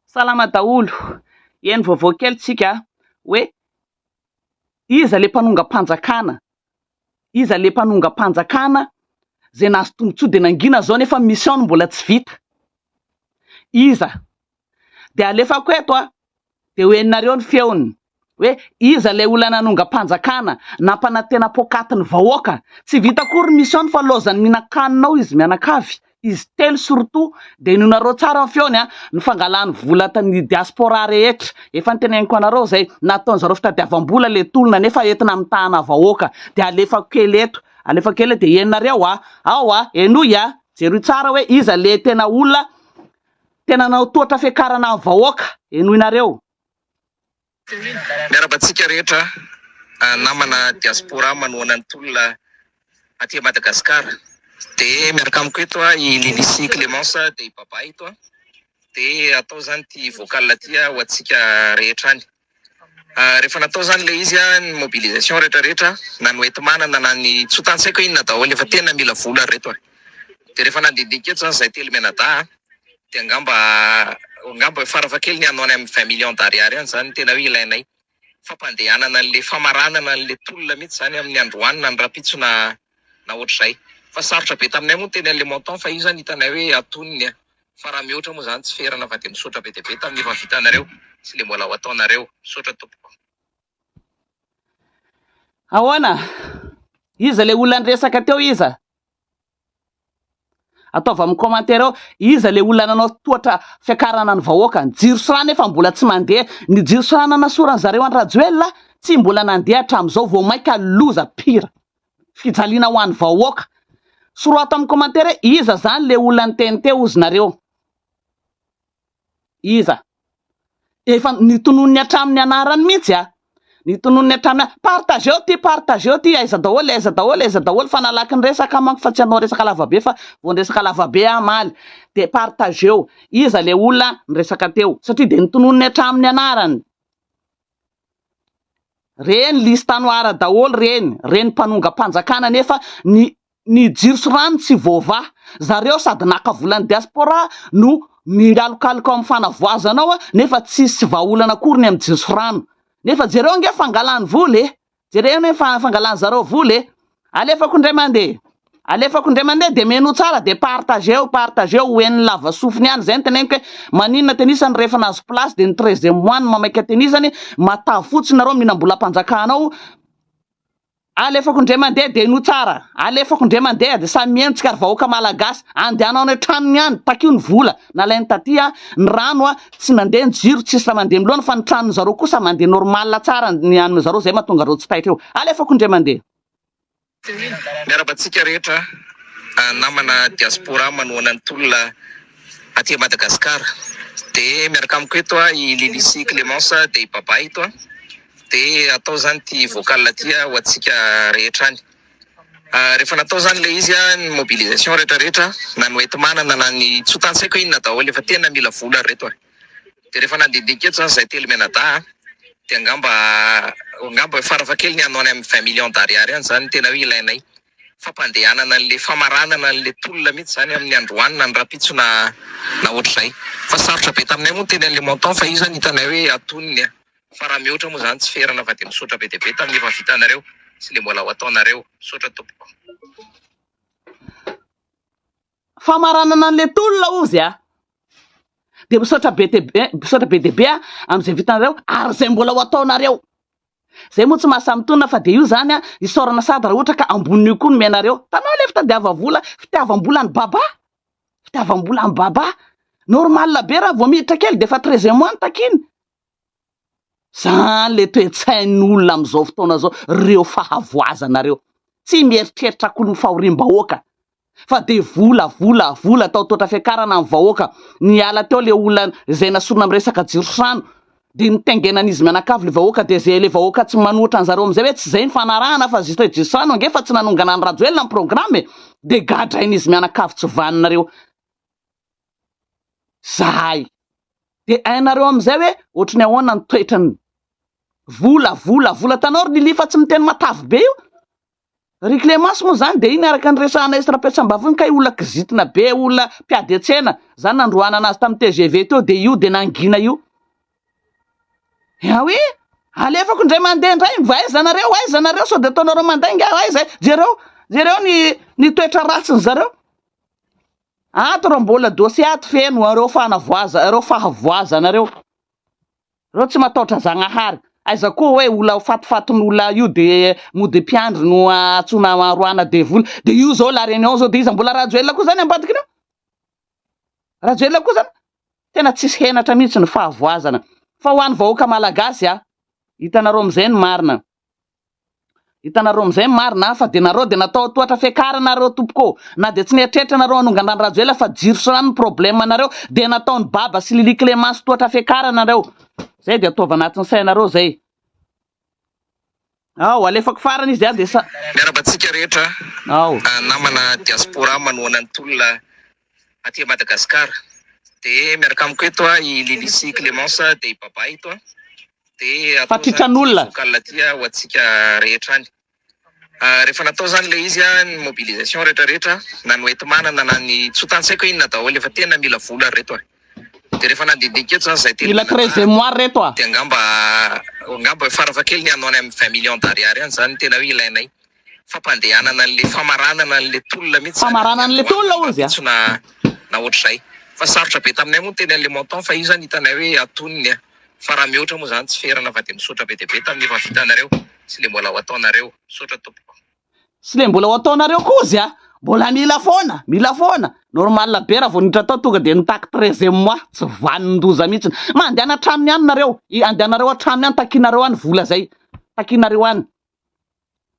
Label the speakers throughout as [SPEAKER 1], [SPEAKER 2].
[SPEAKER 1] Salama daholo, eny vaovao kely tsika a, hoe iza le mpanongam-panjakana, iza le mpanongam-panjakana izay nahazo tombotsoa dia nangina izao nefa ny mission-ny mbola tsy vita, iza? dia alefako eto a, dia ho henonareo ny feony hoe iza ilay olona nanongam-panjakana nampanantena poakaty ny vahoaka, tsy vita akory ny mission-ny fa laozan'ny mihinan-kanina ao izy mianakavy, izy telo surtout, dia henonareo tsara ny feony an, ny fangalany vola ny diaspora rehetra, efa noteneniko anareo izay, nataony zareo fitadiavam-bola ilay tolona nefa entina mitahana vahoaka, dia alefako kely eto, alefako kely eto dia henonareo an, ao an, henoy an, jereo tsara hoe iza ilay tena olona Tena nanao tohatra fiakarana ny vahoaka, henoinareo.
[SPEAKER 2] Miarahaba antsika rehetra namana diaspora manohana ny tolona aty Madagascar de miaraka amiko eto i Lilicie Clemence de i Baba eto de atao zany ty vocal ty ho antsika rehetra any. Rehefa natao zany le izy an, ny mobilisation rehetra rehetra na ny hoenti-manana na ny tsotany tsy haiko inona daholo efa tena mila vola ry reto a! de rehefa nandinika eto zany zahay telo mianadahy an, de angamba angamba farafahakeliny any amin'ny vingt millions d'ariary any zany no tena hoe ilainay fampandehanana anle famaranana anle tolona mihitsy zany amin'ny androany na ny rahampitso na na ohatr'izay fa sarotra be taminay moa ny teny anle montant fa io zany hitanay hoe atonony an! Fa raha mihoatra moa zany tsy ferana fa dia misaotra be dia be tamin'ny efa vitanareo sy le mbola ho ataonareo. Misaotra tompoko.
[SPEAKER 1] Ahoana? Iza ilay olona niresaka teo iza? Ataovy amin'ny commentaire ao, iza ilay olona nanao tohatra fiakarana ny vahoaka? Ny jiro sy rano efa mbola tsy mandeha, ny jiro sy rano nanasoran'ny zareo an'i Rajoelina tsy mbola nandeha hatramin'izao, vao mainka loza pire. fijaliana ho an'ny vahoaka. Sorato amin'ny commentaire hoe iza zany le olona niteny teo ozy nareo? Iza? Efa nitononiny hatramin'ny anarany mihitsy a! Nitononiny hatramin'ny a! Partageo ty, partageo ty, aiza daholo, aiza daholo, aiza daholo, fa nalaky ny resaka aho manko fa tsy hanao resaka lavabe fa vao niresaka lavabe aho omaly dia partageo iza le olona niresaka teo satria dia nitononiny hatramin'ny anarany. Reny liste noire daholo reny, reny mpanongam-panjakana nefa ny ny jiro sy rano tsy voavaha. Zareo sady naka volan'ny diaspora no mingalokaloka ao amin'ny fanavoazana ao nefa tsisy vahaolana akory ny amin'ny jiro sy rano. Nefa jereo ange fangalany vola e! Jereo ny fangalany zareo vola e! Alefako indray mande! Alefako indray mande de menoa tsara de partageo, partageo ho henony lava sofiny any, zay ny teneniko hoe maninona tenisany rehefa nahazo place de ny treizième mois no mamaika tenisany, matavy fotsiny nareo mihinam-bolam-panjakana ao, alefako indray mande de henoa tsara, alefako indray mande de samy miheno tsika ry vahoaka malagasy, andehana any an-tranony any, takio ny vola. Nalainy taty ny rano, tsy nandeha ny jiro, tsisy raha mandeha miloana fa ny tranony zareo kosa mandeha normal tsara ny an'ny zareo zay mahatonga an'ireo tsy taitra eo. Alefako indray mandeha. Miarahaba
[SPEAKER 2] antsika rehetra namana diaspora manohana ny tolona aty Madagascar de miaraka amiko eto i Lily sy Clemence de i Baba eto de atao zany ty vocal ty ho antsika rehetra any Rehefa natao zany le izy an, ny mobilisation rehetra rehetra na ny hoenti-manana na ny tsy ho tantsaiko inona daholo efa tena mila vola ry reto a! de rehefa nandindinika eto zany zahay telo mianadahy an, de angamba angamba farafahakeliny any ho any amin'ny vingt millions d'ariary any zany no tena hoe ilainay fampandehanana anle famaranana anle tolona mihitsy zany amin'ny androany na ny rahampitso na na ohatr'izay fa sarotra be taminay moa ny teny anle montant fa io zany hitanay hoe atonony an! Fa raha mihoatra moa zany tsy ferana fa dia misaotra be dia be tamin'ny efa vitanareo sy le mbola ho ataonareo. Misaotra tompoko.
[SPEAKER 1] Famaranana anle tolona ozy a! Dia misaotra be dia be, misaotra be dia be a! Amin'izay vitanareo ary izay mbola ho ataonareo. Zay moa tsy maha samy tolona fa dia io zany a! Isaorana sady raha ohatra ka ambonin'io koa no miainareo. Tanao le fitadiava vola, fitiavam-bola an'i Baba! Fitiavam-bola an'i Baba! Normal be raha vao miditra kely dia efa treize mois no takiany. Zany le toe-tsain'olona amin'izao fotoana izao, reo fahavoazana reo. Tsy mieritreritra akory ny fahoriam-bahoaka fa dia vola, vola, vola, atao tohatra fiakarana amin'ny vahoaka. Niala teo le olona izay nasorina amin'ny resaka jirosrano dia nitaingenan'izy mianakavy le vahoaka dia izay le vahoaka tsy manohitra an'zareo amin'izay hoe tsy izay ny fanarahana fa juste hoe jirosrano ange fa tsy nanongana an'i Rajoelina ny programme e! Dia gadrain'izy mianakavy tsy vanona reo. zahay dia hainareo amin'izay hoe ohatry ny ahoana ny toetrany. Vola, vola, vola. Hitanao ry Lily fa tsy miteny matavy be io. Ry Clémence moa izany dia iny araka ny resahanay sy Rapetrambavy iny kay olona kizitina be, olona mpiady an-tsena. Izany nandroahana azy tamin'ny tgv teo dia io dia nangina io. Yaoui, alefako indray mandeha indray, mba aiza nareo, aiza nareo, sao dia ataonareo mandainga aho, aiza, jereo, jereo ny, ny toetra ratsin'ny zareo. Ato reo mbola dossier ato feno reo fanavoaza reo fahavoazana reo. Reo tsy mataotra zagnahary. Aiza koa oe ola fatifatin ola io de mody mpiandry no atsona aroana devoly. De io zao la reunion zao de iza mbola rajoelina koa zany ambadikinao? Rajoelina koa zany? Tena tsisy henatra mihitsy ny fahavoazana. Fa ho any vahoaka malagasy a. Hitanareo amzay ny marina. Hitanareo amin'izay ny marina an, fa dia nareo dia natao tohatra fiakarana nareo tompoko ô, na dia tsy nieritreritra nareo hanongan-drano Rajoelina fa jiro sy rano ny problème anareo dia nataon'i Baba sy Lily Clémence tohatra fiakarana nareo, zay dia ataovy anatin'ny sainareo zay. Ao, alefako farany izy dia dia sa. Miaraba antsika rehetra
[SPEAKER 2] Ao. namana diaspora manohana ny tolona aty Madagascar de miaraka amiko eto a i Lily sy Clemence de i Baba eto a de atao zany ity
[SPEAKER 1] vocal ty a ho antsika
[SPEAKER 2] rehetra any rehefa natao zany le izy a ny mobilisation rehetra rehetra na ny hoenti-manana na ny tsy ho tantsaiko inona daholo efa tena mila vola ry reto a de rehefa nandindinika eto zany zay telo mila très memoire ry
[SPEAKER 1] reto a de angamba
[SPEAKER 2] angamba farafahakeliny hanao any amin'ny vingt millions d'ariary any zany tena hoe ilainay fampandehanana an'le famaranana an'le tolona mihitsy zany, famaranana an'le tolona hozy
[SPEAKER 1] a! na
[SPEAKER 2] na ohatr'izay, fa sarotra be taminay moa ny teny an'le montant fa io zany hitanay hoe atonony a! fa raha mihoatra moa zany tsy ferana fa de misaotra be dia be tamin'ny efa vitanareo sy le mbola ho ataonareo, misaotra tompoko. Sy le mbola ho
[SPEAKER 1] ataonareo koa hozy a! mbola mila foana, mila foana, normal be raha vao niditra tao tonga dia nitaky treizième mois, tsy vanin-doza mihitsy, mandehana hatrany any nareo, andehanareo hatrany any, takianareo any vola zay, takianareo any.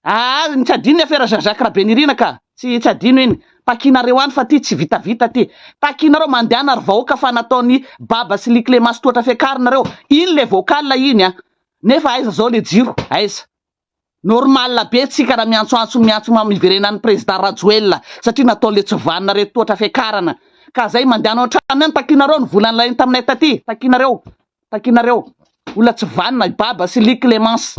[SPEAKER 1] Aa ny tsy adino ny afera Jean Jacques Rabenirina ka! Tsy tsy adino iny. Takianareo any fa ty tsy vitavita ty. Takianareo mandehana ry vahoaka fa nataon'i Baba sy Ly Clémence tohatra fiakarina reo. Iny le vocal iny a! Nefa aiza zao le jiro? Aiza? Normal be tsika raha miantsoantso miantso mam hiverenan'ny Président Rajoelina satria natao le tsy vanona reto tohatra fiakarana. Ka zay mandehana ao an-tranony any takianareo ny vola nilainy taminay taty. Takianareo. Takianareo. Olona tsy vanona i Baba sy Ly Clémence.